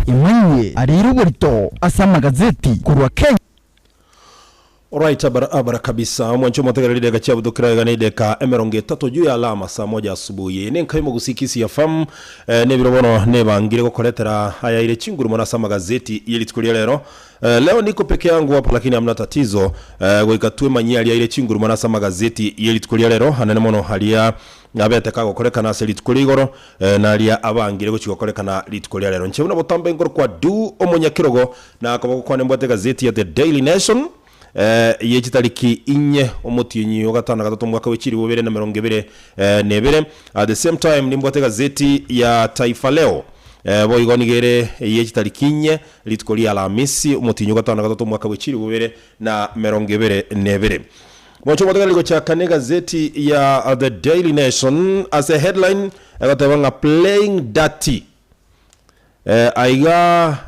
Imaiye aria Iroborito ase amagazeti korwa Kenya. Alright abara abara kabisa mwancho motegera rideka chia butukira iga na ideka emerongo etato juu ya alama saa moja asubuhi eye ne nkai mogusi kisi fm eh, nebiro bono nebangire gokoretera ayaire chinguru mono ase amagazeti ye rituko ria rero Eh, leo niko peke yangu hapo lakini hamna tatizo. Eh, goika twe manyie aria aire chinguru mana ase amagazeti ye rituko ria rero, anene mono aria abete kagokorekana ase rituko ria igoro, eh, na aria abangire gochi gokorekana rituko ria rero. Inche buna botambe nkorokwa Du Omonyakerogo na koba gokwana mbwate egazeti ya The Daily Nation, eh, ye chitariki inye omotienyi o gatano na gatato omwaka bwe chilifu bibere na merongo ebere, eh, na ebere. At the same time nimbwate egazeti ya Taifa Leo, eh, boigo nigo ere eye chitariki inye, Rituko ria Alamisi, omotienyi o gatano gatato omwaka bwe chilifu ibere na emerongo ebere na ebere. Moche omoteganeri gochaka negazeti ya The Daily Nation ase headline egoteba ng'a Playing Dirty aiga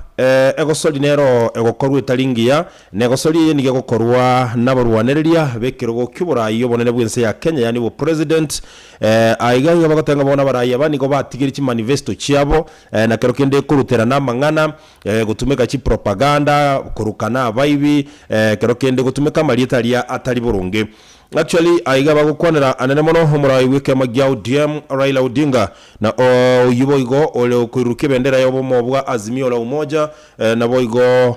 egosori nero egokorwa etari ngiya, na egosori eye nigo egokorwa naborwanereria bekerogo ki'oboraai obonene bwense ya Kenya yaani obopresident. Aiga iga bagotenga bono abarai aba nigo batigerie chimanifesto chiabo Na kero kende koruterana amang'ana, gotumeka chipropaganda, korokana abaibi, kero kende gotumeka amarieta aria atari boronge. Actually aiga bagokwanera anene mono omorai bw'ekema gia ODM, Raila Odinga, na oyio boigo ore okoirurukia ebendera y'obomo bwa Azimio la Umoja, naboigo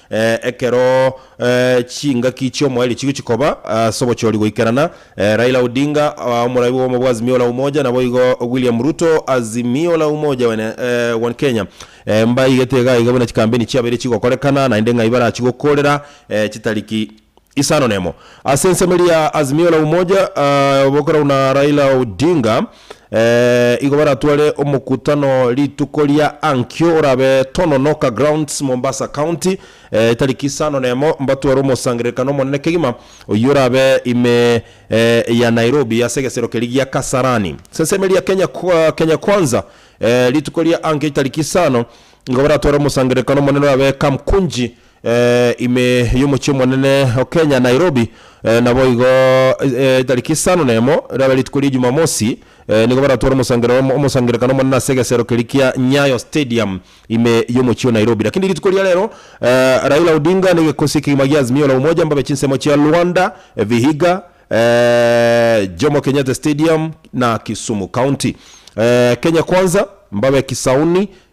Ekero chingaki chi'omoerio chigochia koba ase obochori goikerana, Raila Odinga, omoraibwa bw'omobo Azimio la Umoja, naboigo William Ruto, Azimio la Umoja One Kenya, mbaigete iga aiga buna chikambeni chiabeire chigokorekana, naende ng'ai barachigokorera chitariki. isano nemo ase ensemo eria ya Azimio la Umoja bokorwa na Raila Odinga igo baratware omokutano rituko ria ankio orabe Tononoka Grounds Mombasa County etariki isano nemo mbatware omosangererekano omonene kegima oyio orabe ime ya Nairobi ase egesero keria gia Kasarani ase ensemo eria ya Kenya Kwanza rituko ria ankio etariki isano igo baratware omosangererekano omonene orabe Kamkunji Eh, ime y'omochie omonene o Kenya, Nairobi, eh, naboigo eh, eh, etariki isano na emo, erabe rituko rie Jumamosi, eh, nigo baratware omosangero omo- omosangerekano omonene ase egesero keria kia Nyayo Stadium ime y'omochie o Nairobi. Lakini rituko ria rero, eh, Raila Odinga na egekosi ekegima gia Azimio la Umoja mbabe chinsemo chia Luanda, eh, Vihiga, eh, Jomo Kenyatta Stadium na Kisumu County. Eh, Kenya Kwanza mbabe Kisauni,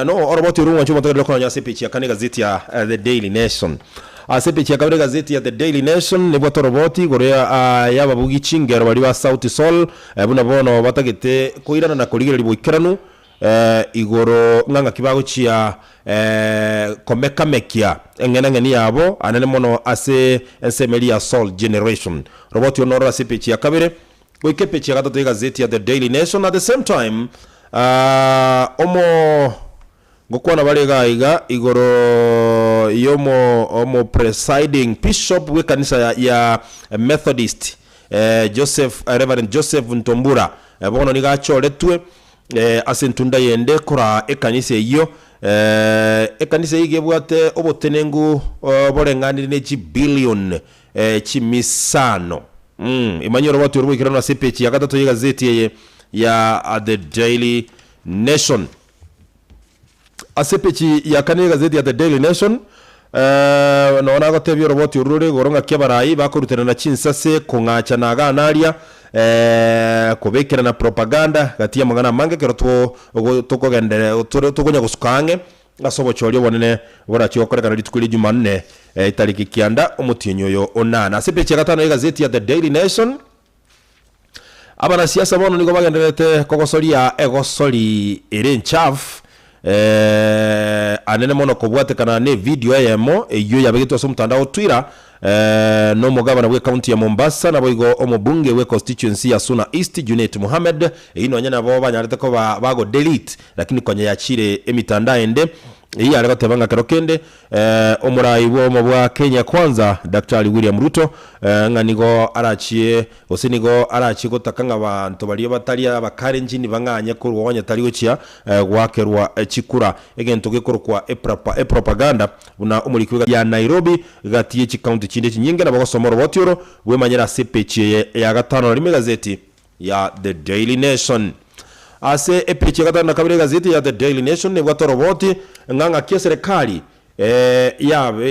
Eno oroboti ore omwancho omotogerete konya ase epeji ya kane egazeti ya The Daily Nation. Ase epeji ya kabere egazeti ya The Daily Nation nebwate oroboti igoro y'ababugi chingero baria ba Sauti Sol buna bono batagete koirana na korigereria boikeranu igoro ng'a ng'aki bagochia komekamekia eng'enang'eni yabo anene mono ase ensemo eria ya Sol Generation. Roboti ore nororo ase epeji ya kabere. Goika epeji ya gatato y'egazeti ya The Daily Nation at the same time aah omo ngokwana bare iga iga igoro y'omo omopresiding bishop bw'ekanisa ya ya Methodist eh Joseph Reverend Joseph Ntombura bono nigo achoretwe eh ase entunda yende koraa ekanisa eyio eh ekanisa eyio iga ebwate obotenenku boreng'anire ne chibillion Eh, chimisaano. Um, imanyia ore gotwera oboikeranu ase epechi ya gatato y'egazeti eye ya The Daily Nation. Ase epechi ya kane y'egazeti ya The Daily Nation, eh, nao nagotebia oroboti oru rore igoro ng'aki abarai bakorutanera chinsase, kong'acha na agaana aria, eh, kobekerana propaganda, gati y'amang'ana amange ekero two- ogo- tokogendere- tore- tokonya gosuka ang'e, Ase obochori obonene borachie gokorekana rituko ria Jumanne, etariki kianda, omotienyi oyo onana. Ase peji ya gatano y'egazeti ya The Daily Nation, Abanasiasa bono nigo bagendererete kogosoria egosori ere enchafu anene mono kobwatekana nevidio eyemo eyio yabegetwe ase omotandao o Twitter, Nomogabana bw'ecounty ya Mombasa naboigo omobunge bw'econstituency ya Suna East Junet Mohamed, eyio nonye nabo banyarete koba bago delete lakini konya yachire emitandao ende, eyio are goteba ng'a kero kende omorai bw'omo bwa Kenya Kwanza Daktari William Ruto ng'a nigo arachie gose nigo arachie gotaka ng'a abanto baria batari abakarenjini bang'anye korwa onye tari gochia goakerwa chikura egento gekorokwa epropaganda Buna omoriki w'egati ya Nairobi, gati ye chikaunti chinde chinyinge nabo gosoma oroboti oro bw'emanyera ase pechi eye ya gatano na rimo egazeti ya The Daily Nation. Ase epechi ya gatano na kabere egazeti eye ya The Daily Nation nebwate oroboti ng'a ng'aki eserekari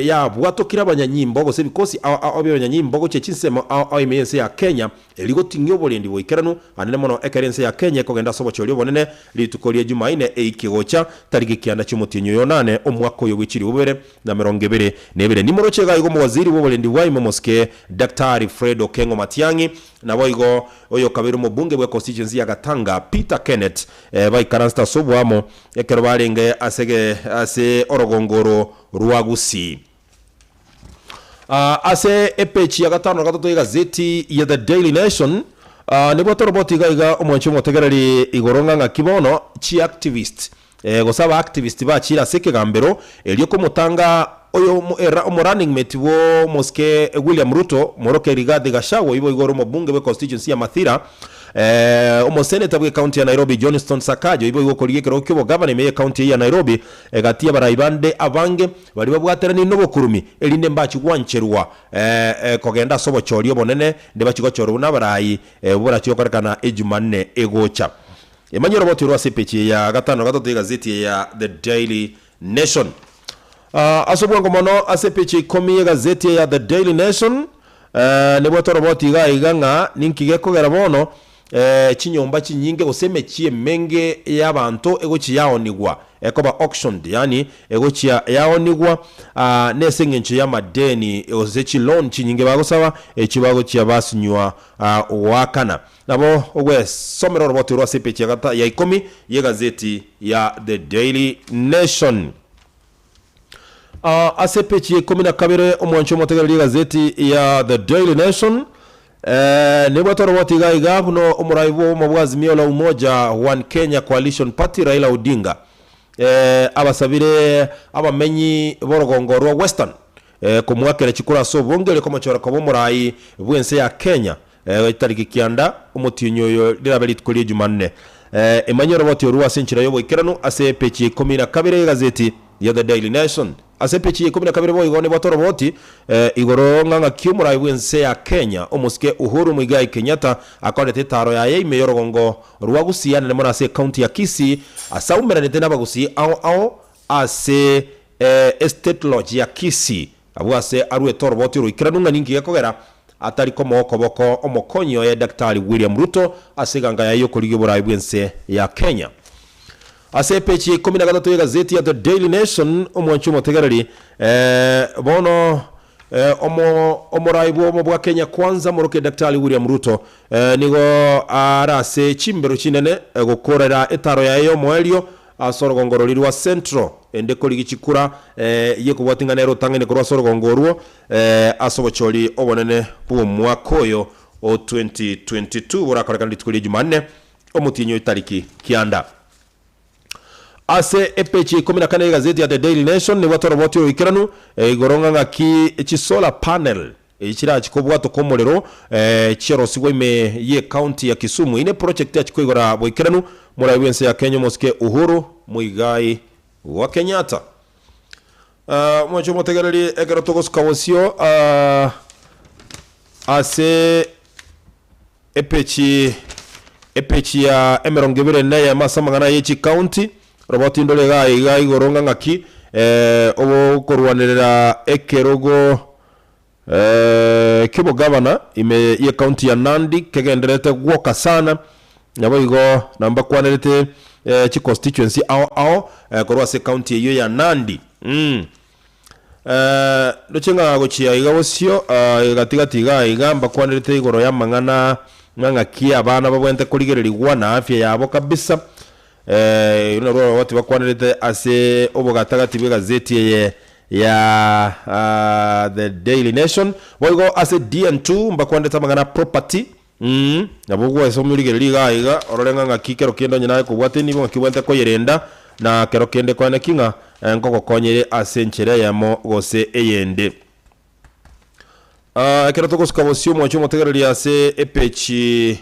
yabwatokire abanyanyimbo gose ebikosi ao ao ebi'abanyanyimbo gochia chinsemo ao ao ime y'ense ya Kenya Eri rigoting'ia oborendi boikeranu, anene mono ekero ense ya Kenya ekogenda ase obochoria obonene, rituko ria Jumaine eikie gocha, tariki kianda chi'omotienyi oyo onane, omwaka oyo bw'echiri bobere na emerongo ebere na ebere. Nimoroche iga igo omowaziri bw'oborendi bwaimo omosike, Daktari Fred Okengo Matiang'i, naboigo oyokabeire omobunge bwe constituency ya Gatanga, Peter Kennet, baikaransete ase oboamo ekero barenge ase ase orogongo oro rwa Gusii. Ah, ase epechi ya gatano na gatato y'egazeti ya The Daily Nation ah, nibwo toroboti iga iga omwanchi omotegereri igoro ng'a ng'aki bono chi'activist eh, gose abaactivist bachire ase ekegambero erio komotanga oyo omo- era omorunning mate bw'omosike William Ruto morokia Rigathi Gachagua oibo oigoro omobunge bwe constituency ya Mathira eh, omoseneta bwe county ya Nairobi Johnston Sakaja oibo oigokorigia ekerogo ki'obogavana ime ye county eye ya Nairobi egati y'abarai bande abange Baria babwateranire nobokurubi, erinde mbachi gwancherwa kogenda ase obochori obonene, ndibachi gochorwa buna abarai, oborachi gokorekana Ejumanne egocha. Emanyia oroboti orwo ase epeji eya gatano na gatato y'egazeti eya The Daily Nation. Ase obwango mono, ase epeji ya ikomi y'egazeti eya The Daily Nation, nebwate oroboti iga aiga ng'a ninki gekogera bono Ee, chinyomba chinyinge gose emechie emenge y'abanto egochia yaonigwa, ekoba auctioned, yaani egochia yaonigwa, aa, nese engencho y'amadeni gose chiloan chinyinge bagosaba, echio bagochia basinywa aa, ogoakana. Nabo ogwesomera oroboti orwo ase epeji ya gata, ya ikomi, y'egazeti ya The Daily Nation. Ah, ase epechi ya ikomi na kabere omwancho omotegereri egazeti ya The Daily Nation eh, nebwate oroboti iga iga buna omorai bw'obomo bwa Azimio la Umoja One Kenya Coalition Party Raila Odinga eh, abasabire abamenyi b'orogongo rwa Western eh, komoakera chikura ase obongereria kw'omochoroko bw'omorai bw'ense ya Kenya Egetariki kianda omotienyi oyo rirabe rituko rie Jumanne. Imanya oroboti orwo ase enchera y'oboikeranu ase epeji ya ikomi na kabere y'egazeti ya The Daily Nation. Ase epeji ya ikomi na kabere boigo nibote oroboti igoro ng'a ng'aki omorai bw'ense ya Kenya, omosike Uhuru Muigai Kenyatta, akorete etaaro yaye ime y'orogongo rwa Gusii anene mono ase ekaunti ya Kisii ase aumeranete n'Abagusii ao ao ase Estate Lodge ya Kisii. Abwo ase arwete oroboti oroikeranu ng'a ninki gekogera atari komoa okoboko omokonyi oye Daktari William Ruto ase eganga yaye y'okorigia oboraai bw'ense ya Kenya. Ase epeji ya ikomi na gatato y'egazeti ya The Daily Nation, omwanchi omotegereri bono omoraai bw'obomo bwa Kenya Kwanza omorokia Daktari William Ruto nigo are ase chimbero chinene gokorera etaro yaye y'omoerio Ase orogongo roria rwa central, ende korigia chikura y'ekobwatia ing'ana ere otang'aine korwa ase orogongo orwo ase obochori obonene bw'omwaka oyo o 2022 borakorekana rituko ria Jumanne, omotienyi oyo tariki kianda. Ase epeji ya ikomi na kane y'egazeti ya The Daily Nation nigo torobotie oroikeranu igoro ng'a ng'aki chisolar panel Echi chirachie kobwatoka omorero chiarosigwa ime y'ecounty ya Kisumu. Eyio ne project yachia koigora boikeranu morayi bw'ense ya Kenya omosike Uhuru Muigai wa Kenyatta. Moche motegereri ekero togosuka bosio ase epechi epechi ya emerongo ebere na eyemo ase amang'ana aya ye chicounty. Robo tindore igaa iga igoro ng'a ng'aki ogokorwanerera ekerogo. Eki'obogavana ime y'ecounty ya Nandi kegendererete gwoka sana, naboigo nambakwanerete chi'constituency ao ao korwa ase ecounty eyio ya Nandi. Ndoche ng'a gochia iga bosio gati gati iga iga mbakwanerete igoro y'amang'ana ng'a ng'aki abana babwenerete korigererigwa na afya yabo kabisa, Ee, oro narwo orogooti bakwanerete ase obogatagati bw'egazeti eye ya The Daily Nation. Boigo ase DN2 mbakwanerete amang'ana a property, mm, nabo gwesoma origererie iga iga orore ng'a ng'aki kero kende onye naye kobwate nigo ng'aki obwenerete koyerenda, na kero kende kwane ki ng'a nkogokonyere ase enchera eyemo gose eyende. Ah, ekero togosuka bosio omwache omotegereri ase epechi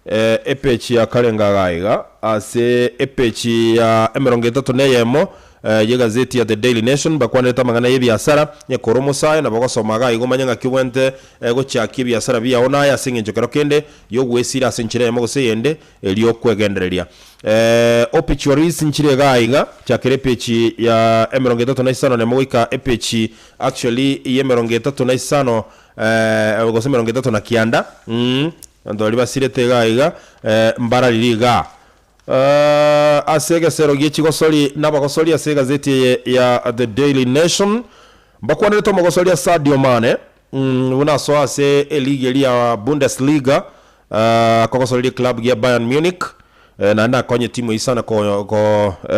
eh, epechi ya karenga iga iga ase epechi ya emerongo etato na eyemo eh, y'egazeti ya The Daily Nation bakwanete amang'ana y'ebiasara nyakore omosae nabo ogosoma iga iga omanye ng'aki obwente eh, gochiakia ebiasara biao naye ase eng'encho ekero kende y'ogwesira ase enchera eyemo gose eyende erio okwegendereria eh, obituaries nchire iga iga chakera epechi ya emerongo etato na isano na emo goika epechi Actually eye emerongo etato na isano eh, gose emerongo etato na kianda mm, abanto baria basirete igaa iga eh, mbararire igaa eh, ase egesero gie chigosori nabagosori ase egazeti eye ya The Daily Nation mbakwanerete omogosori Sadio Mane mm, buna asoa ase eligi eria Bundesliga Akogosoreria club gia Bayern Munich naende akonye timu eyio sana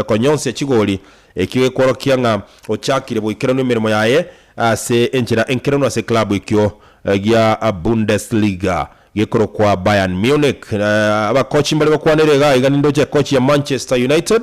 konyonsia chigori, ekio gekworokia ng'a ochakire boikeranu emeremo yaye ase enchera enkeranu ase club ekio gia Bundesliga gekorokwa Bayern Munich. Abakochi mbare bakwanire igaa, iga nindoche kochi ya Manchester United,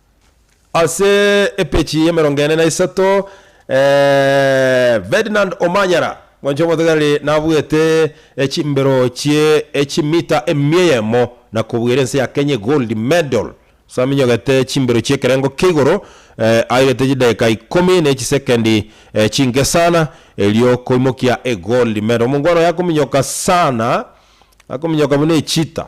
Ase epechi y'emerongo ene na isato, Ferdinand Omanyala, mwancha omotegereri nabuete echimbero chie echimita emia eyemo na kobuera ense ya Kenya egold medal. Saminyogete chimbero chi'ekerengo kia igoro, airete chidakika ikomi ne chisekendi chinke sana erio koimokia egold medal. Omongwana oyo akominyoka sana, akominyoka buna echita.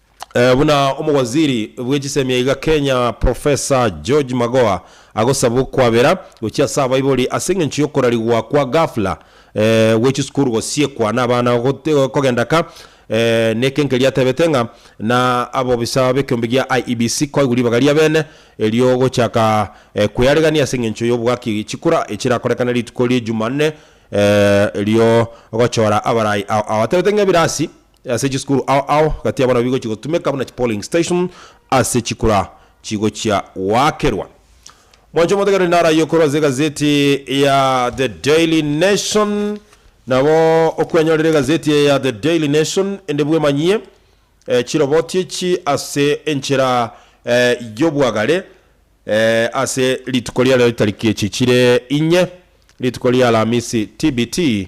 Buna omowaziri bwe chisemi aiga Kenya Professor George Magoha agosaba okwabera gochia ase abaibori ase engencho yokorarigwa kwa ghafla gwe chisukuru gosiekwa nabana kogenda ka nekenkeri atebete ng'a na abobisa bekiombe gia IEBC koigwa ribaga riabene erio gochaka kwearegania ase engencho yobwaki chikura echirakorekana rituko rie Jumanne erio gochora abarai ao atebete ng'a ebirasi Ase chisukuru ao ao gati yabo naboigo chigotumeka buna chipolling station ase chikura chigochia goakerwa. Mwanche omotegereri naro ayio korwa ase egazeti ya The Daily Nation. Nabo okwenyorire egazeti eye ya The Daily Nation inde bwemanyie chiroboti echi ase enchera y'obwagare ase rituko riarero ritariki echi chire inye, rituko ria Alamisi, TBT,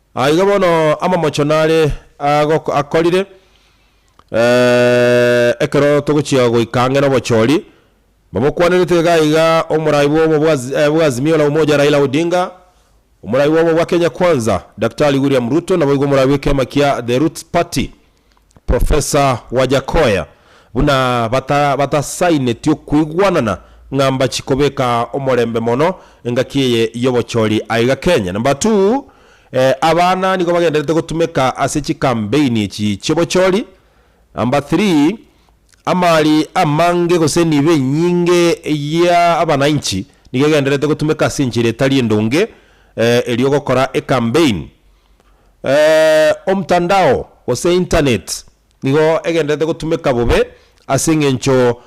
Aiga bono amamocho nare agok akorire, eh, ekero togochia goika ang'e nobochori, babokwanerete iga aiga omorai bwomo bwa Az eh, bwa Azimio la Umoja Raila Odinga, omorai bwomo bwa Kenya Kwanza Daktari William Ruto naboigo omorai bw'ekema kia The Roots Party Profesa Wajackoyah, buna bata batasaineti okoigwanana ng'a mbachi kobeka omorembe mono engaki eye y'obochori aiga Kenya. Number two, eh, abana nigo bagenderete gotumeka ase chikambeini echi chi'obochori. Number three, amari amange gose enibo enyinge ya abanainchi nigo egenderete gotumeka ase enchera etari endonge, eh, erio gokora ekambeini. Omtandao gose internet nigo egendererete gotumeka bobe ase eng'encho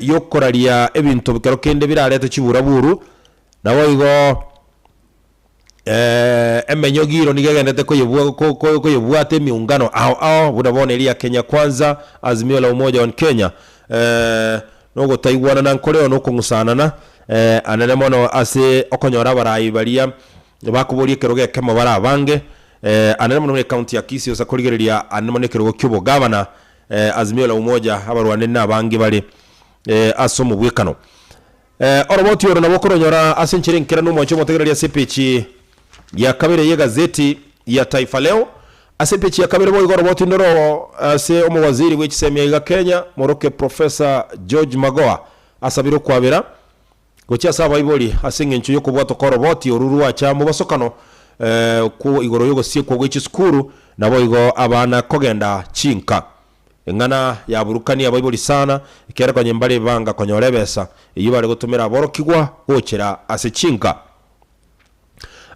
yokoraria ebinto bikero kende birarete chibura-buru, naboigo emenyogi ero nigo egendererete koyebwata emiungano ao ao buna bono eria ya Kenya Kwanza, Azimio la Umoja One Kenya, nogotaigwanana nkoreo nokong'usanana anene mono ase okonyora abarai baria. Bakoboria ekerogo ekemo bare abange, anene mono buna County ya Kisii, osa korigereria anene mono ekerogo ki'obogavana, Azimio la Umoja, abarwaneri nabange bare ase omobwekano. Oroboti oro nabo okoronyora ase enchera enkeranu omoanchwa omotegereri ase epeji ya kabere y'egazeti ya Taifa Leo. Ase epeji ya kabere boigo oroboti ndoro ase omowaziri bw'echisemi aiga Kenya, moroke Professor George Magoha asabire okwabera. Gochia ase abaibori, ase engencho y'okobwatwa kw'oroboti oru rwacha mobosokano kwo igoro y'ogosiekwa gwe chisukuru, naboigo abana kogenda chinka. Eng'ana ya burukani abaibori sana, ekero konya mbare banga konyora ebesa eyio bare gotomera aborokigwa gochera ase chinka.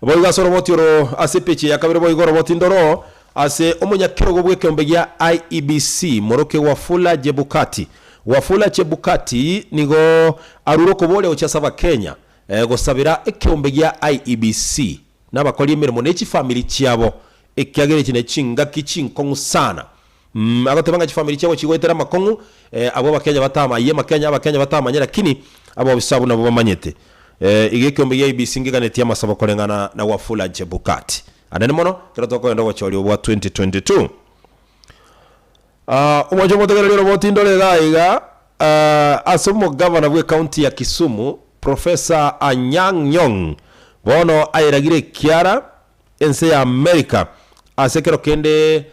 Boigo ase oroboti oro ase peji eya kabere boigo oroboti ndoro ase omonyakerogo bw'ekeombe gia IEBC morokia Wafula Jebukati. Wafula Chebukati nigo arure okoboria gochia ase abakenya gosabera ekeombe gia IEBC na abakori emeremo ne chifamiri chiabo ekiagera echi ne chingaki chinkong'u sana. Umm agoteba ng'a chifamiri chiabo chigoetera amakong'u eh, abwo abakenya batama aye makenya abakenya batamanye lakini abobisa abwo nabo bamanyete eh, iga ekeombe gia IEBC ngeganetie amasabo koreng'ana na Wafula Chebukati anene mono ekero tokogenda ogochoria obwa 2022 ah, omwancho omotegereri orobo otindore igaa iga ah, ase omogavana bw'ecounty ya Kisumu Professor Anyang' Nyong' bono aeragire ekiara ense ya America ase ekero kende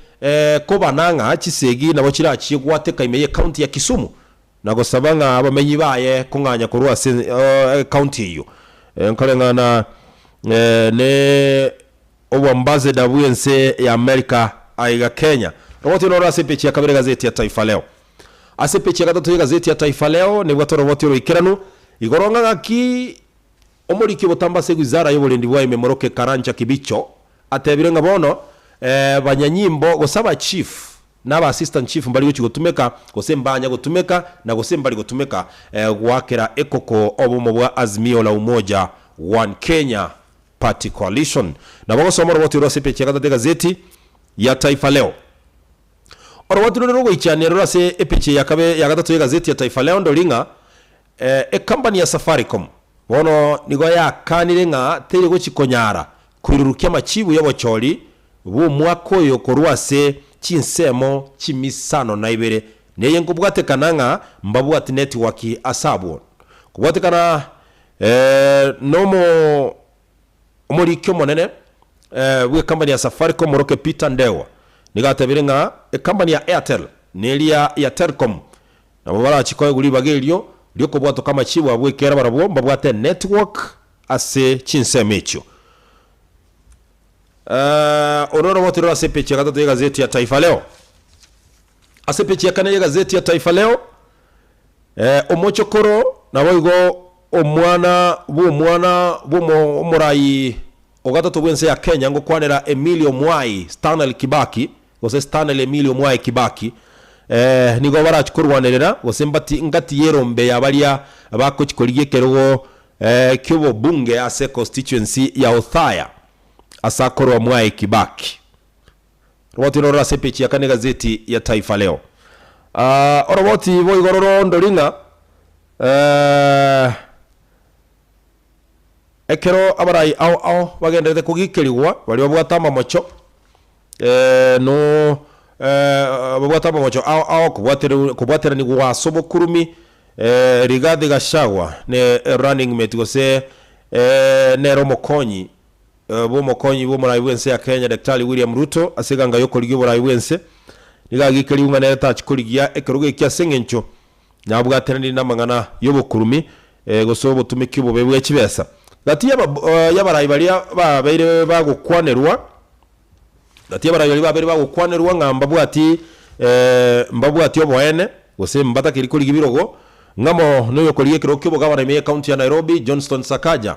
kobana ng'a chisegi nabo chirachigwate kaime ye county ya Kisumu na gosaba ng'a abamenyi baye kong'anya korwa ase county eyio. Nkareng'ana ne obwambassador bw'ense ya America aiga Kenya. Rogotia noro ase epeji ya kabere egazeti ya Taifa Leo. Ase epeji ya gatato y'egazeti ya Taifa Leo nibwo torobotia oroikeranu igoro ng'a ng'aki Omoriki obotambase Wizara y'oborendi bwa ememoroke Karanja Kibicho atebire ng'a bono banyanyimbo gose aba chief na aba assistant chief mbari gochia gotumeka gose mbanya gotumeka na gose mbari gotumeka goakera ekoko obomo bwa Azimio la Umoja One Kenya Party Coalition. Nabo gosoma oroboti oro ase epeji ya gatato egazeti ya Taifa Leo. Oroboti rore rogoichania rore ase epeji eye ya gatato y'egazeti ya Taifa Leo ndori ng'a, Ekampani ya Safaricom bono nigo yakanire ng'a teri gochi konyara koirurukia amachibu y'obochori bw'omwaka oyo korwa ase chinsemo chimisano na ibere neye nkobwatekana ng'a mbabwati netiwaki ase abwo kobwatekana nomo Omoriki omonene bw'ekambani ya Safaricom omoroke Peter Ndegwa nigo atebire ng'a ekambani ya Airtel na eria ya Telkom nabo barachikoe igoro ribaga erio ri'okobwatoka amachibo abwo ekiagera barabwo mbabwate network ase chinsemo echio. Oro noroboti rore ase epeji ya gatato y'egazeti ya Taifa Leo. Ase peji ya kane y'egazeti ya Taifa Leo, omochokoro naboigo omwana bw'omwana bw'omorai o gatato bw'ense ya Kenya ngokwanera Emilio Mwai Stanely Kibaki, gose Stanely Emilio Mwai Kibaki, nigo barachie korwanerera gose mbati ngati y'erombe ya baria bagochia korigia ekerogo ki'obobunge ase constituency ya Othaya ase akorwa Mwai Kibaki. Oroboti oro rore ase epeji ya kane egazeti ya Taifa Leo. Oroboti boigo rorondori ng'a ekero abarai ao ao bagendererete kogikerigwa baria babwate amamocho no babwate amamocho ao ao kobwaterwa kobwateranigwa ase obokurumi, Rigathi Gachagua ne running mate gose nere omokonyi bw'omokonyi bw'omorai bw'ense ya Kenya Daktari William Ruto ase eganga y'okorigia oborai bw'ense, nigo agikerigwe ng'a nere tachi korigia ekerogo eki ase engencho nabwateneiri namang'ana y'obokurumi gose obotumeki obobe bwe chibesa gati y'abarai baria babeire bagokwanerwa gati y'abarai baria babeire bagokwanerwa ng'a mbabwati mbabwati oboene gose mbatakeri korigia ebirogo, ng'amo noyokorigia ekerogo ki'obogavana ime y'ekaunti ya Nairobi Johnston Sakaja.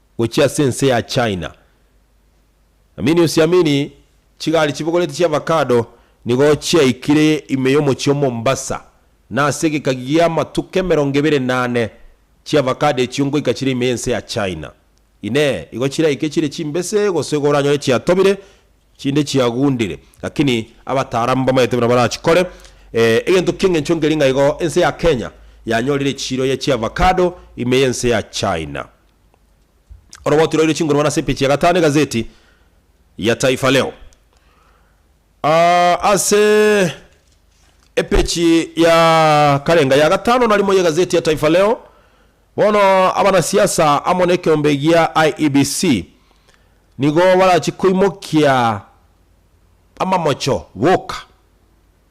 gochia ase ense ya China. Amini osiamini, chigari chibogorete chia avacado nigo chiaikire ime y'omochie o Mombasa, na ase egekagi gia amatuko emerongo ebere na ane, chiavacado echio ngoika chire ime y'ense ya China. Inee! Igo chiraike chire chimbese, gose igo oranyore chiatobire, chinde chiagundire? Lakini abataaramu bamaete buna barachikore. Egento ki'engencho nkeri ng'a igo ense ya Kenya yanyorire echiiro ye chiavacado ime y'ense ya China. Oroboti roire chinguru mana ase epeji ya gatano egazeti ya Taifa Leo. Aah, ase epeji ya karenga ya gatano na rimo y'egazeti ya Taifa Leo, bono abanasiasa amo nekeombe gia IEBC nigo barachie koimokia amamocho boka.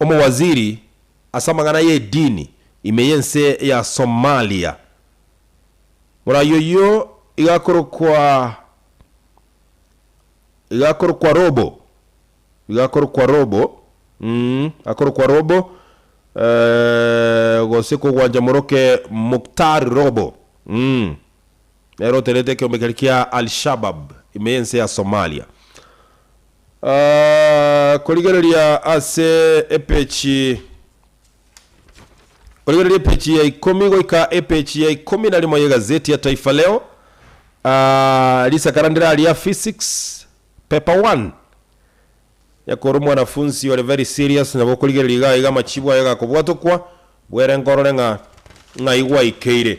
Omowaziri ase amang'ana y'edini ime y'ense ya Somalia. Moraia oyio iga akorokwa iga akorokwa Robo, iga akorokwa Robo, mm, akorokwa Robo, eh, gose kogwancha moroke Muktar Robo, mm, nere oterete ekeombe keria kia Al-Shabab ime y'ense ya Somalia. Korigereria ase epechi korigereria epechi ya ikomi goika epechi ya ikomi na rimo y'egazeti ya Taifa Leo ah, risakara ndira ria physics paper 1 yakora omwanafunsi ore very serious nabo okorigereria iga iga amachibu aye gakobwatokwa bwerenka orore ng'a ng'ai gwaikeire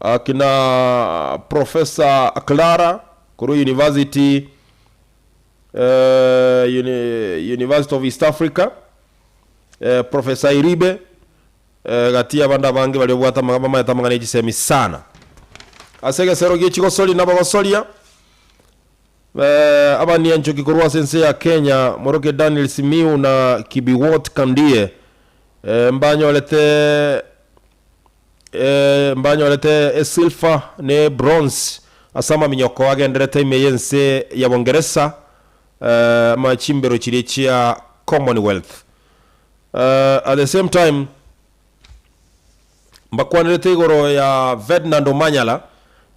Akina Professor Clara korwa University eh, uni- University of East Africa, eh, Professor Iribe, eh, gati y'abande abange baria obwate ama- bamaete amang'ana y'echisemi sana. Ase egesero gi'echigosori na abagosoria, eh, abanianchoki korwa ase ense ya Kenya, morokia Daniel Simiyu na Kibiwot Kandie, eh, mbanyorete mbanyorete esilfa na ebronsi ase amaminyoko agenderete ime y'ense ya Bongeresa, ama chimbero chiria chia Commonwealth. At the same time, mbakwanerete igoro ya Ferdinand Omanyala,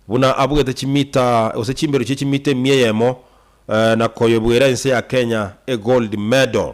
buna abugete chimita gose chimbero chia chimita emia eyemo, na koyebwera ense ya Kenya egold medal.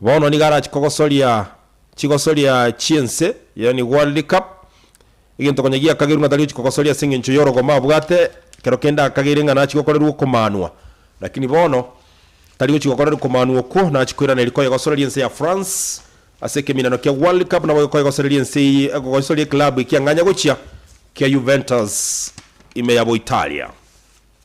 Bono nigo arache kogosoria chigosoria chi'ense, yaani World Cup. Egento konya giakagerwa ng'a tari gochia kogosoria ase engencho y'orogomo abwate, ekero kende akageire ng'a nachia gokorerwa okomanwa. Lakini bono tari gochia gokorerwa okomanwa okwo, nachia koiraneria koyegosoreria ense ya France ase ekeminano kia World Cup, nabo ekoyegosoreria ense eyio, ekogosoria eclub ekiang'anya gochia kia Juventus ime ya Boitalia.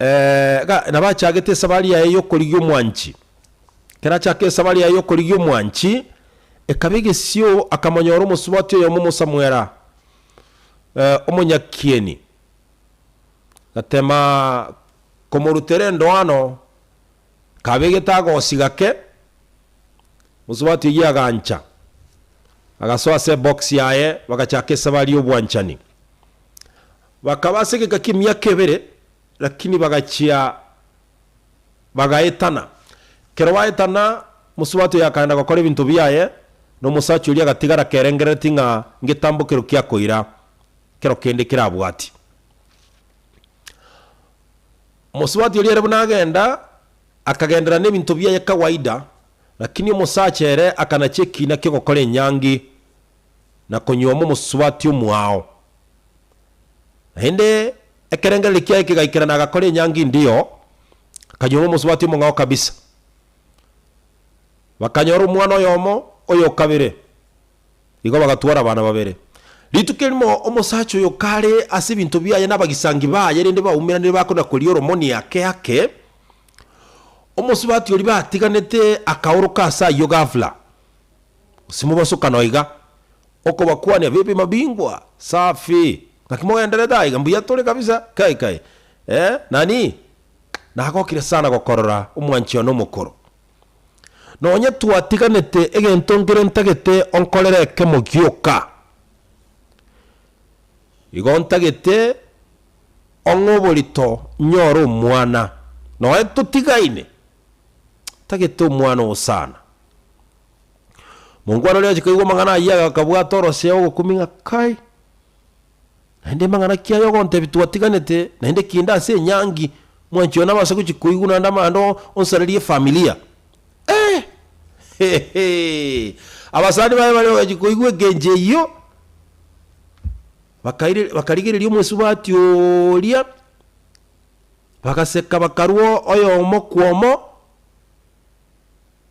Ee, ga, nabo achagete esabari yaye y'okorigia omwanchi. Ekero achaka esabari yaye y'okorigia omwanchi, ekaba egesio, akamonyora omosubati oyomo omosamwera, eh, omonyakieni. Gatema komorutera endoano, kabegete agosi gake, mosubati oyio agancha, agasoa ase ebox yaye, bagachaka esabari y'obwanchani. Bakaba ase egeka ki'emiaka ebere, lakini bagachia bagaetana. Kero baetana, mosubati oye akaenda gokora ebinto biaye, na omosacha oria agatigara akerengerereti ng'a ngetambo kero kiakoira, kero kende kerabwati. Mosubati oria ere buna agenda, akagenderera nebinto biaye kawaida, lakini omosacha ere akanachia ekiina ki'ogokora enyangi, na konyuoma omosubati omwao, Naende ekerengererio kiaye kegaikera na agakora enyanga endiyo, akanyuoma omosubati omong'ao kabisa. Bakanyora omwana oyomo, oyokabere, igo bagatwara abana babere. Rituko erimo omosacha oyo kare ase ebinto biaye na abagisangi baye, erinde baumeranire bakona koria oromoni ake ake, omosubati oria batiganete akaoroka ase ayio gafla. Gose mobasokane oiga, okobakwania bibe mabingwa. Safi! Naki mogendererete aiga? Mbuya tore kabisa. Kai kai. Ee, nani? Nagokire sana gokorora omwanchi one omokoro. Nonya twatiganete egento nkere ntagete onkorere ekemo gioka. Igo ntagete ong'e oborito nyore omwana. Nonye totigaine, ntagete omwana oo sana. Omonkwana oria agachia koigwa amang'ana ayio iga akabwata oroseo ogokumia ng'a kai, naende emang'ana ki aya ogontebia twatiganete naende kende ase enyangi, mwanchi one abase gochia koigwa naende amang'ana naende onsarerie efamilia. Eeh! Heheeii! Abasani baye baria bagachia koigwa egencho eyio, bakaire bakarigereria omosubati oria, bagaseka bakarwa oyomo kwomo.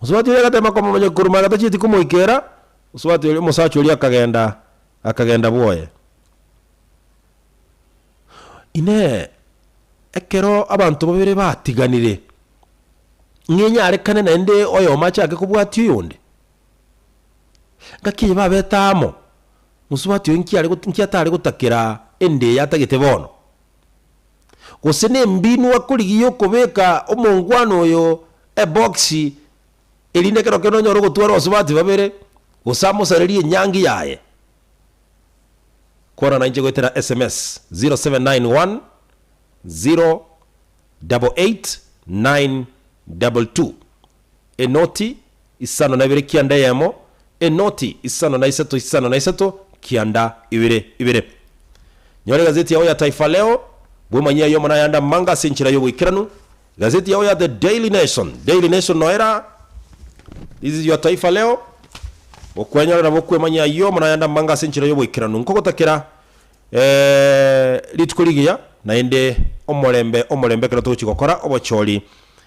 Mosubati oria agateema komomanya korwa mambia tachieti komoikera, mosubati oria, omosacha oria akagenda, akagenda bwoye. Inee! Ekero abanto babere batiganire, ng'e nyarekane naende oyomo achake kobwatia oyonde? Ngaki eye babete amo, mosubati oyo nki are got- nki atare gotakera ende eye atagete bono? Gose nembiinwa akorigia okobeka omongwana oyo ebokisi, erinde ekero kende onyare ogotwara abasubati babere, gose amosarerie enyangi yaye. Kwana nainche goetera sms 0791 088 922. enoti isano na ibere kianda eyemo, enoti isano na isato isano na isato kianda ibere ibere. Nyora egazeti yao ya Taifa Leo, bw'omanyie ayomo na ayande amanga ase enchera y'oboikeranu. Egazeti yao ya The Daily Nation, Daily Nation noyo era, this is your Taifa Leo, okwenyora nabo okwemanyia ayomo na ayande amanga ase enchera y'oboikeranu. Nkogotakera eh, rituko rigiya, naende omorembe, omorembe ekero togochi gokora obochori